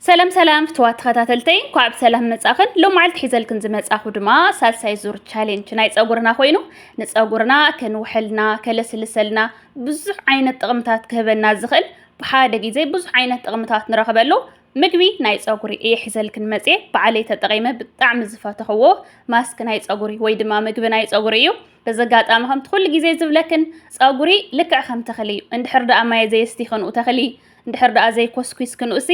ሰላም ሰላም ፍትዋት ተኸታተልተይ እንኳዕ ብሰላም መጻኽን ሎማዓልቲ ሒዘልክን ዝመጻኹ ድማ ሳልሳይ ዙር ቻሌንጅ ናይ ፀጉርና ኮይኑ ንፀጉርና ከንውሐልና ከለስልሰልና ብዙሕ ዓይነት ጥቕምታት ክህበና ዝኽእል ብሓደ ግዜ ብዙሕ ዓይነት ጥቕምታት ንረኽበሉ ምግቢ ናይ ፀጉሪ እየ ሒዘልክን መፅየ በዓለይ ተጠቒመ ብጣዕሚ ዝፈተኽዎ ማስክ ናይ ፀጉሪ ወይ ድማ ምግቢ ናይ ፀጉሪ እዩ በዚ ኣጋጣሚ ከምቲ ኩሉ ግዜ ዝብለክን ፀጉሪ ልክዕ ከም ተኽሊ እዩ እንድሕር ደኣ ማየ ዘየስቲ ክንኡ ተኽሊ እንድሕር ደኣ ዘይኮስኲስኪ ንኡሲ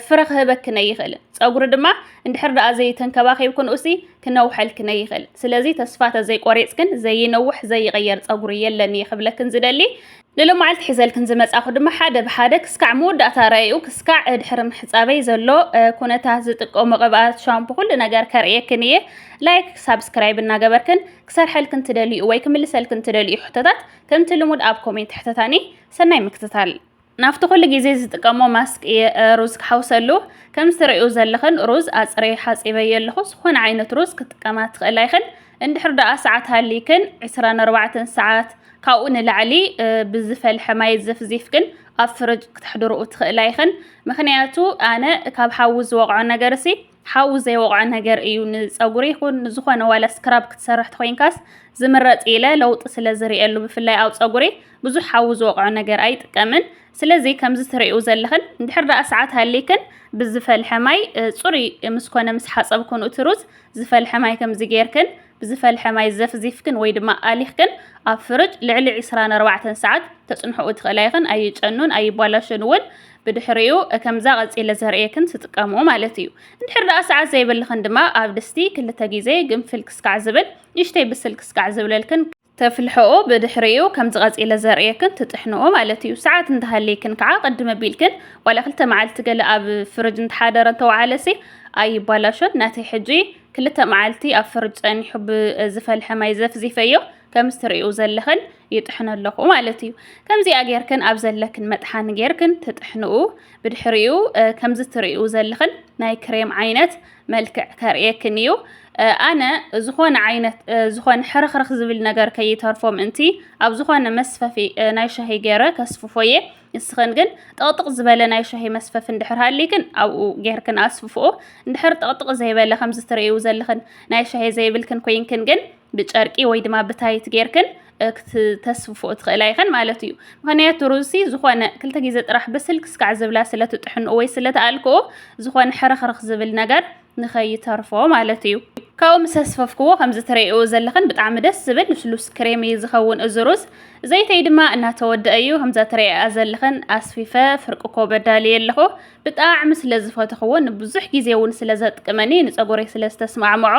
ፍረ ክህበኪ ነይኽእልን ፀጉሪ ድማ እንድሕር ደኣ ዘይተንከባኺብኪ ንኡሲ ክነውሐልኪ ነይኽእልን ስለዚ ተስፋ ተዘይቆሪፅክን ዘይነውሕ ዘይቕየር ፀጉሪ የለን እየ ክብለክን ዝደሊ ንሎማዓልቲ ሒዘልክን ዝመፃኹ ድማ ሓደ ብሓደ ክስካዕ መወዳእታ ረኣይኡ ክስካዕ ድሕሪ ምሕፃበይ ዘሎ ኩነታት ዝጥቀሞ ቅብኣት ሻምፑ ኩሉ ነገር ከርእየክን እየ ላይክ ሳብስክራይብ እናገበርክን ክሰርሐልክን ትደልዩ ወይ ክምልሰልክን ትደልዩ ሕቶታት ከምቲ ልሙድ ኣብ ኮሜንት ሕተታኒ ሰናይ ምክትታል ናብቲ ኩሉ ግዜ ዝጥቀሞ ማስክ እየ ሩዝ ክሓውሰሉ ከምዚ ትርእዩ ዘለኽን ሩዝ ኣጽረየ ሓጺበዮ ኣለኹ ዝኾነ ዓይነት ሩዝ ክትጥቀማ ትኽእላ ይኽን እንድሕር ደኣ ሰዓት ሃሊክን 24 ሰዓት ካብኡ ንላዕሊ ብዝፈልሐ ማይ ዘፍዚፍክን ኣብ ፍርጅ ክትሕድርኡ ትኽእላ ይኽን ምክንያቱ ኣነ ካብ ሓዊ ዝወቕዖ ነገር ሲ ሓዊ ዘይወቕዖ ነገር እዩ። ንጸጉሪ ይኹን ንዝኾነ ዋላ ስክራብ ክትሰርሕ ተኾይንካስ ዝምረጽ ኢለ ለውጢ ስለ ዝርእየሉ ብፍላይ ኣብ ጸጉሪ ብዙሕ ሓዊ ዝወቕዖ ነገር ኣይጥቀምን። ስለዚ ከምዚ ትርእዩ ዘለኽን እንድሕር ደኣ ሰዓት ሃሊክን ብዝፈልሐ ማይ ጽሩይ ምስ ኮነ ምስ ሓጸብክን እቲ ሩዝ ዝፈልሐ ማይ ከምዚ ጌርክን ብዝፈልሐ ማይ ዘፍዚፍክን ወይ ድማ ኣሊኽክን ኣብ ፍርጅ ልዕሊ 24 ሰዓት ተጽንሕኡ ትኽእላ ኢኽን። ኣይጨኑን ኣይቧላሸን እውን ብድሕሪኡ ከምዛ ቀጺለ ዘርእየክን ትጥቀምኡ ማለት እዩ። እንድሕር ደኣ ሰዓት ዘይብልኽን ድማ ኣብ ድስቲ ክልተ ግዜ ግንፍል ክስካዕ ዝብል ንእሽተይ ብስል ክስካዕ ዝብለልክን ተፍልሕኦ ብድሕሪኡ ከምዚ ቀጺለ ዘርእየክን ትጥሕንኦ ማለት እዩ። ሰዓት እንተሃልይክን ከዓ ቅድም ኣቢልክን ዋላ ክልተ መዓልቲ ገለ ኣብ ፍርጅ እንተሓደረ እንተወዓለሲ ኣይባላሾን። ናተይ ሕጂ ክልተ መዓልቲ ኣብ ፍርጅ ጸኒሑ ብዝፈልሐ ማይ ዘፍዚፈዮ። ከምዚ ትርእዩ ዘለኽን ይጥሕኖ ኣለኹ ማለት እዩ ከምዚኣ ጌርክን ኣብ ዘለክን መጥሓኒ ጌርክን ትጥሕንኡ ብድሕሪኡ ከምዚ ትርእዩ ዘለኽን ናይ ክሬም ዓይነት መልክዕ ከርእየክን እዩ ኣነ ዝኾነ ዓይነት ዝኾነ ሕርኽርኽ ዝብል ነገር ከይተርፎ ምእንቲ ኣብ ዝኾነ መስፈፊ ናይ ሻሂ ገይረ ከስፍፎ እየ ንስኽን ግን ጠቕጥቕ ዝበለ ናይ ሻሂ መስፈፊ እንድሕር ሃሊክን ኣብኡ ጌርክን ኣስፍፍኦ እንድሕር ጠቕጥቕ ዘይበለ ከምዚ ትርእዩ ዘለኽን ናይ ሻሂ ዘይብልክን ኮይንክን ግን ብጨርቂ ወይ ድማ ብታይት ጌርክን ክትተስፍፎ ትኽእላ ይኸን ማለት እዩ ምክንያቱ ሩዝሲ ዝኾነ ክልተ ግዜ ጥራሕ ብስልክ ስካዕ ዝብላ ስለትጥሕንኦ ወይ ስለትኣልክኦ ዝኾነ ሕርኽርኽ ዝብል ነገር ንኸይተርፎ ማለት እዩ ካብኡ ምስ ኣስፈፍክዎ ከምዚ ትርእይዎ ዘለኽን ብጣዕሚ ደስ ዝብል ልስሉስ ክሬም እዩ ዝኸውን እዚ ሩዝ ዘይተይ ድማ እናተወድአ እዩ ከምዛ ትርእይኣ ዘለኽን ኣስፊፈ ፍርቂ ኮበ ዳልየ ኣለኹ ብጣዕሚ ስለ ዝፈተኽዎ ንብዙሕ ግዜ እውን ስለ ዘጥቅመኒ ንፀጉረይ ስለ ዝተስማዕምዖ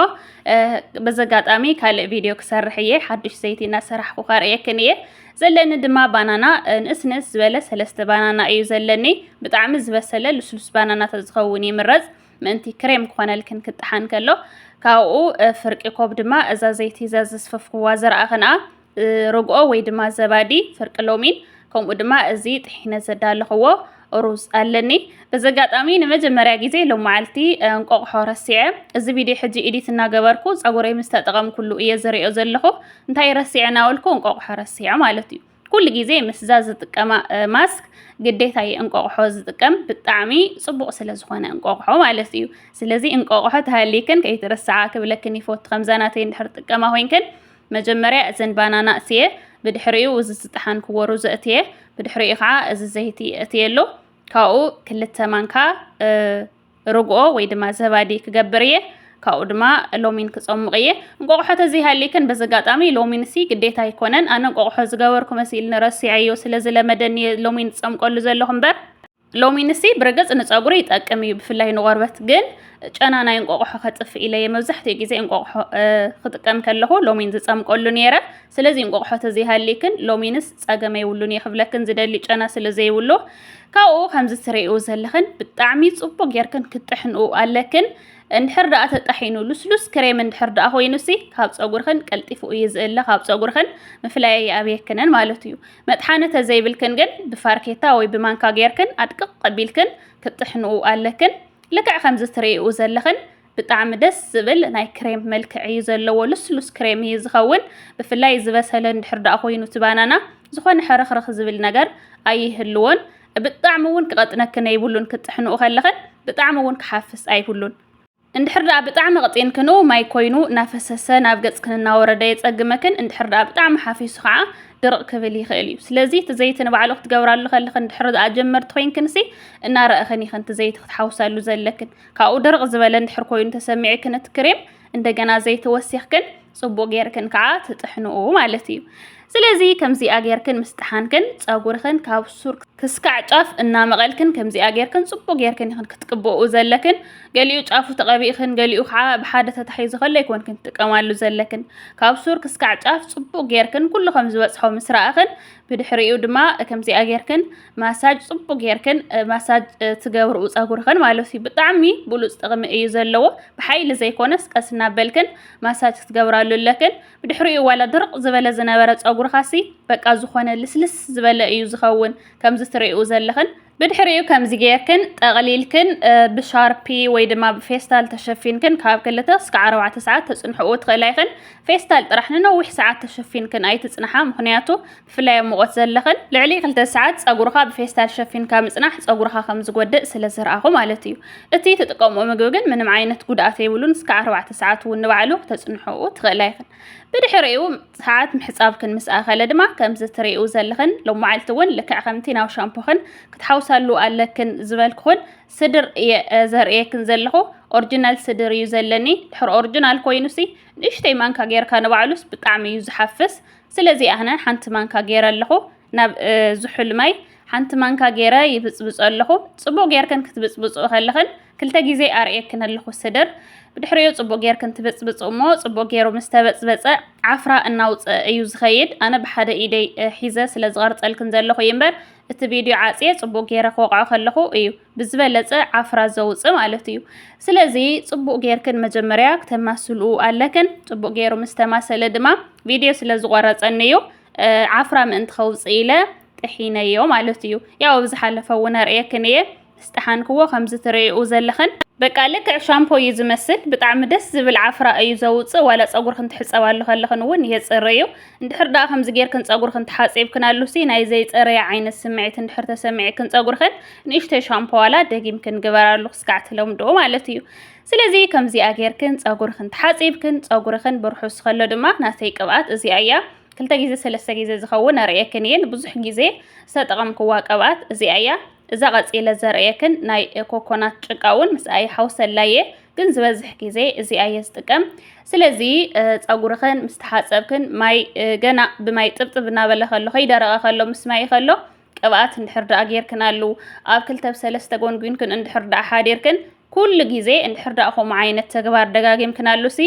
በዚ ኣጋጣሚ ካልእ ቪድዮ ክሰርሕ እየ ሓዱሽ ዘይቲ እናሰራሕኩ ከርእየክን እየ ዘለኒ ድማ ባናና ንእስ ንእስ ዝበለ ሰለስተ ባናና እዩ ዘለኒ ብጣዕሚ ዝበሰለ ልስሉስ ባናና ተዝኸውን ይምረፅ ምእንቲ ክሬም ክኾነልክን ክጠሓን ከሎ ካብኡ ፍርቂ ኮብ ድማ እዛ ዘይቲ እዛ ዘስፈፍክዋ ዘርኣ ክንኣ ርግኦ ወይ ድማ ዘባዲ ፍርቂ ሎሚን ከምኡ ድማ እዚ ጥሒነ ዘዳለኽዎ ሩዝ ኣለኒ በዚ ኣጋጣሚ ንመጀመርያ ግዜ ሎም መዓልቲ እንቆቕሖ ረሲዐ እዚ ቪድዮ ሕጂ ኢዲት እናገበርኩ ፀጉረይ ምስ ተጠቐምኩሉ እየ ዝሪኦ ዘለኹ እንታይ ረሲዐ ናበልኩ እንቆቕሖ ረሲዐ ማለት እዩ ኩሉ ግዜ ምስዛ ዝጥቀማ ማስክ ግዴታ እየ እንቆቕሖ ዝጥቀም ብጣዕሚ ፅቡቕ ስለ ዝኾነ እንቆቕሖ ማለት እዩ ስለዚ እንቆቕሖ ተሃሊክን ከይትርስዓ ክብለክን ይፈቱ ከምዛ ናተይ እንድሕር ጥቀማ ኮይንክን መጀመርያ እዘን ባናና እእትየ ብድሕሪኡ እዚ ዝጠሓንክዎ ሩዝ እእትየ ብድሕሪኡ ከዓ እዚ ዘይቲ እእትየሉ ካብኡ ክልተ ማንካ ርግኦ ወይ ድማ ዘባዲ ክገብር እየ ካብኡ ድማ ሎሚን ክፀሙቕ እየ እንቆቑሖ ተዘይሃሊክን በዚ ኣጋጣሚ ሎሚን ሲ ግዴታ ኣይኮነን ኣነ እንቆቑሖ ዝገበርኩ መሲልኒ ረሲዐዮ ስለ ዝለመደኒ እየ ሎሚን ዝፀምቀሉ ዘለኹ እምበር ሎሚንሲ ብርግጽ ንጸጉሪ ይጠቅም እዩ ብፍላይ ንቆርበት ግን ጨና ናይ እንቆቆሖ ከጥፍእ ኢለ እየ መብዛሕትኡ ግዜ እንቆቆሖ ክጥቀም ከለኹ ሎሚን ዝጸምቀሉ ነይረ ስለዚ እንቆቆሖ ተዘይሃሊክን ሎሚንስ ጸገመ ይብሉን እየ ክብለክን ዝደሊ ጨና ስለ ዘይብሉ ካብኡ ከምዚ ትርእዩ ዘለኽን ብጣዕሚ ጽቡቅ ጌርክን ክትጥሕንኡ ኣለክን እንድሕር ደኣ ተጣሒኑ ልስሉስ ክሬም እንድሕር ደኣ ኮይኑሲ ካብ ጸጉርኽን ቀልጢፉ እዩ ዝእለ ካብ ጸጉርኽን ምፍላይ ኣብየክንን ማለት እዩ መጥሓኒ ተዘይብልክን ግን ብፋርኬታ ወይ ብማንካ ጌርክን ኣድቅቅ ኣቢልክን ክትጥሕንኡ ኣለክን ልክዕ ከምዚ ትርእይኡ ዘለኽን ብጣዕሚ ደስ ዝብል ናይ ክሬም መልክዕ እዩ ዘለዎ ልስሉስ ክሬም እዩ ዝኸውን ብፍላይ ዝበሰለ እንድሕር ደኣ ኮይኑ እቲ ባናና ዝኾነ ሕርኽርኽ ዝብል ነገር ኣይህልዎን ብጣዕሚ እውን ክቐጥነክን የብሉን ክትጥሕንኡ ከለኽን ብጣዕሚ እውን ክሓፍስ ኣይብሉን እንድሕር ደኣ ብጣዕሚ ቕጢንክን ን ማይ ኮይኑ ናፈሰሰ ናብ ገጽክን እናወረደ የጸግመክን እንድሕር ደኣ ብጣዕሚ ሓፊሱ ከኣ ድርቕ ክብል ይኽእል እዩ ስለዚ እቲ ዘይቲ ንባዕሉ ክትገብራሉ ከለኽን እንድሕር ደኣ ጀመርቲ ኮይንክንሲ እናረእኽን ኢኽን እቲ ዘይቲ ክትሓውሳሉ ዘለክን ካብኡ ድርቕ ዝበለ እንድሕር ኮይኑ ተሰሚዕክን እቲ ክሬም እንደገና ዘይቲ ወሲኽክን ፅቡቅ ጌርክን ከዓ ትጥሕንኡ ማለት እዩ። ስለዚ ከምዚኣ ጌርክን ምስ ጠሓንክን ፀጉርክን ካብ ሱር ክስካዕ ጫፍ እናመቐልክን ከምዚኣ ጌርክን ፅቡቅ ጌርክን ይኽን ክትቅብኡ ዘለክን ገሊኡ ጫፉ ተቐቢእክን ገሊኡ ከዓ ብሓደ ተታሒዙ ከሎ ኣይኮንክን ትጥቀማሉ ዘለክን ካብ ሱር ክስካዕ ጫፍ ፅቡቅ ጌርክን ኩሉ ከም ዝበፅሖ ምስ ረኣኽን ብድሕሪኡ ድማ ከምዚኣ ጌርክን ማሳጅ ፅቡቅ ጌርክን ማሳጅ ትገብርኡ ፀጉርክን ማለት እዩ ብጣዕሚ ብሉፅ ጥቕሚ እዩ ዘለዎ ብሓይሊ ዘይኮነስ ቀስ እናበልክን ማሳጅ ክትገብራሉ ኣለክን ብድሕሪኡ ዋላ ድርቅ ዝበለ ዝነበረ ጸጉርካሲ በቃ ዝኾነ ልስልስ ዝበለ እዩ ዝኸውን ከምዚ ትሪኡ ዘለኽን ብድሕሪኡ ከምዚ ጌርክን ጠቕሊልክን ብሻርፒ ወይ ድማ ብፌስታል ተሸፊንክን ካብ ክልተ እስከ ዓረባዕተ ሰዓት ተጽንሕኡ ትኽእላ ኢኽን ፌስታል ጥራሕ ንነዊሕ ሰዓት ተሸፊንክን ኣይትጽንሓ ምክንያቱ ብፍላይ ኣብ ሙቐት ዘለኽን ልዕሊ ክልተ ሰዓት ጸጉርኻ ብፌስታል ሸፊንካ ምጽናሕ ጸጉርኻ ከም ዝጎድእ ስለ ዝረኣኹ ማለት እዩ። እቲ ትጥቀምኦ ምግቢ ግን ምንም ዓይነት ጉድኣት የብሉን እስከ ኣርባዕተ ሰዓት እውን ንባዕሉ ክተጽንሕኡ ትኽእላ ኢኽን። ብድሕሪኡ ሰዓት ምሕጻብክን ምስ ኣኸለ ድማ ከምዚ ትርእኡ ዘለኽን ሎማዓልቲ እውን ልክዕ ከምቲ ናብ ሻምፖኽን ክትሓውሳሉ ኣለክን ዝበልኩኽን ስድር እየ ዘርእየክን ዘለኹ ኦርጂናል ስድር እዩ ዘለኒ ድሕሪ ኦርጂናል ኮይኑሲ ንእሽተይ ማንካ ጌርካ ንባዕሉስ ብጣዕሚ እዩ ዝሓፍስ ስለዚ ኣነ ሓንቲ ማንካ ገይረ ኣለኹ ናብ ዝሑል ማይ ሓንቲ ማንካ ገይረ ይብጽብጾ ኣለኹ። ጽቡቕ ጌርክን ክትብጽብጽኡ ከለኽን ክልተ ግዜ ኣርእየክን ኣለኹ ስድር። ብድሕሪኡ ጽቡቕ ጌርክን ትብጽብጽኡ እሞ ጽቡቕ ገይሩ ምስ ተበጽበጸ ዓፍራ እናውጽአ እዩ ዝኸይድ። ኣነ ብሓደ ኢደይ ሒዘ ስለ ዝቐርጸልክን ዘለኹ እዩ እምበር እቲ ቪድዮ ዓጽየ ጽቡቕ ገይረ ክወቕዖ ከለኹ እዩ። ብዝበለፀ ዓፍራ ዘውፅእ ማለት እዩ። ስለዚ ፅቡቅ ጌርክን መጀመርያ ክተማስልኡ ኣለክን። ፅቡቅ ጌሩ ምስ ተማሰለ ድማ ቪድዮ ስለ ዝቆረፀኒ እዩ እ፣ ዓፍራ ምእንቲ ከውፅእ ኢለ ጥሒነዮ ማለት እዩ። ያው ኣብ ዝሓለፈ እውን ኣርእየክን እየ ምስ ጠሓንክዎ ከምዚ ትርእይኡ ዘለኽን በቃ ልክዕ ሻምፖ እዩ ዝመስል። ብጣዕሚ ደስ ዝብል ዓፍራ እዩ ዘውፅእ። ዋላ ፀጉርክን ትሕፀባሉ ከለኽን እውን የፅሪ እዩ። እንድሕር ደኣ ከምዚ ጌርክን ጸጉርክን ተሓጺብክን ኣሉሲ ናይ ዘይጸረየ ዓይነት ስምዒት እንድሕር ተሰሚዕክን ጸጉርክን ንእሽተይ ሻምፖ ዋላ ደጊምክን ግበራሉ ክስካዕ ትለምድኦ ማለት እዩ። ስለዚ ከምዚኣ ጌርክን ጸጉርክን ተሓጺብክን ጸጉርክን ብርሑስ ከሎ ድማ ናተይ ቅብኣት እዚኣ እያ ክልተ ግዜ ሰለስተ ግዜ ዝኸውን ኣርእየክን እየ ንብዙሕ ግዜ ዝተጠቐምክዋ ቅብኣት እዚኣ እያ። እዛ ቀጺለ ዘርእየክን ናይ ኮኮናት ጭቃ እውን ምስኣ ይሓውሰላ እየ፣ ግን ዝበዝሕ ግዜ እዚኣ እየ ዝጥቀም። ስለዚ ጸጉርኽን ምስ ተሓጸብክን ማይ ገና ብማይ ጥብጥብ እናበለ ከሎ ከይደረቐ ከሎ ምስ ማይ ከሎ ቅብኣት እንድሕር ደኣ ጌርክን ኣሉ ኣብ ክልተ ብሰለስተ ጎንጒንክን እንድሕር ደኣ ሓዲርክን ኩሉ ግዜ እንድሕር ደኣ ከምኡ ዓይነት ተግባር ደጋጊምክን ኣሉሲ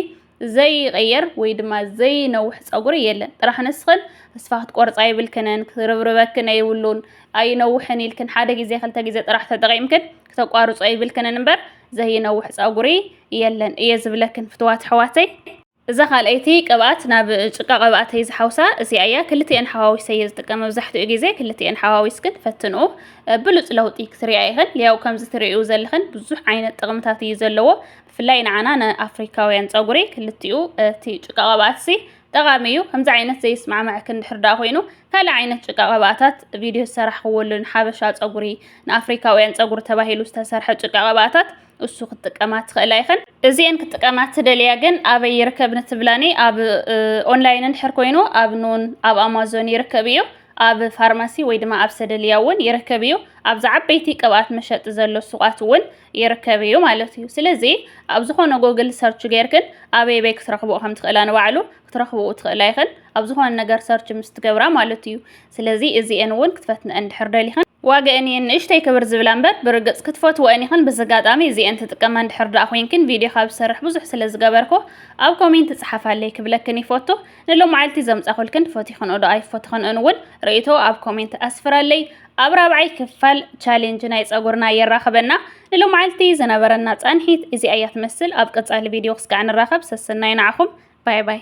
ዘይቕየር ወይ ድማ ዘይነውሕ ፀጉሪ የለን ጥራሕ ንስኽን ተስፋ ክትቆርፃ የብልክንን ክርብርበክን ኣይብሉን ኣይነውሕን ኢልክን ሓደ ግዜ ክልተ ግዜ ጥራሕ ተጠቂምክን ክተቋርፆ የብልክንን እምበር ዘይነውሕ ፀጉሪ የለን እየ ዝብለክን ፍትዋት ኣሕዋተይ እዛ ካልኣይቲ ቅብኣት ናብ ጭቃ ቅብኣተይ ዝሓውሳ እዚኣ እያ ክልቲኤን ሓዋዊሰ እየ ዝጥቀም መብዛሕትኡ ግዜ ክልቲኤን ሓዋዊስክን ፈትንኡ ብሉፅ ለውጢ ክትሪያ ኢኽን ያው ከምዚ ትሪኡ ዘለኽን ብዙሕ ዓይነት ጥቕምታት እዩ ዘለዎ ብፍላይ ንዓና ንኣፍሪካውያን ፀጉሪ ክልቲኡ እቲ ጭቃ ቅብኣትሲ ጠቓሚ እዩ። ከምዚ ዓይነት ዘይስማዕማዕኪ እንድሕር ደኣ ኮይኑ ካልእ ዓይነት ጭቃ ቅብኣታት ቪድዮ ዝሰራሕክዎሉ ንሓበሻ ፀጉሪ ንኣፍሪካውያን ፀጉሪ ተባሂሉ ዝተሰርሐ ጭቃ ቅብኣታት እሱ ክትጥቀማ ትኽእላ ይኽን። እዚኤን ክጥቀማ ትደልያ ግን ኣበይ ይርከብ ንትብላኒ ኣብ ኦንላይን እንድሕር ኮይኑ ኣብ ኑን ኣብ ኣማዞን ይርከብ እዩ። ኣብ ፋርማሲ ወይ ድማ ኣብ ሰደልያ እውን ይርከብ እዩ። ኣብዛ ዓበይቲ ቅብኣት መሸጢ ዘሎ ሱቓት እውን ይርከብ እዩ ማለት እዩ። ስለዚ ኣብ ዝኾነ ጎግል ሰርች ጌርክን ኣበይ በይ ክትረኽብኦ ከም ትኽእላ ንባዕሉ ክትረኽብኡ ትኽእላ ይኽን ኣብ ዝኾነ ነገር ሰርች ምስ ትገብራ ማለት እዩ። ስለዚ እዚኤን እውን ክትፈትነአን ድሕር ደሊኽን ዋገአን እየን ንእሽተይ ክብር ዝብላ እምበር ብርግጽ ክትፈትወአን ኢኽን በዚ ኣጋጣሚ እዚኤን ትጥቀማ እንድሕር ደኣ ኮይንክን ቪድዮ ካብ ዝሰርሕ ብዙሕ ስለ ዝገበርኩ ኣብ ኮሜንት ጽሓፋለይ ክብለክን ይፈቱ ንሎማዓልቲ ዘምጻኹልክን ፈቲኽንኦ ዶ ኣይፈትኽንኦን ውን ርእይቶ ኣብ ኮሜንት ኣስፍራለይ ኣብ ራብዓይ ክፋል ቻሌንጅ ናይ ጸጉርና የራኽበና ንሎማዓልቲ ዝነበረና ጻንሒት እዚኣ እያ ትመስል ኣብ ቀጻሊ ቪድዮ ክስካዕ ንራኸብ ሰሰናዩ ንዓኹም ባይ ባይ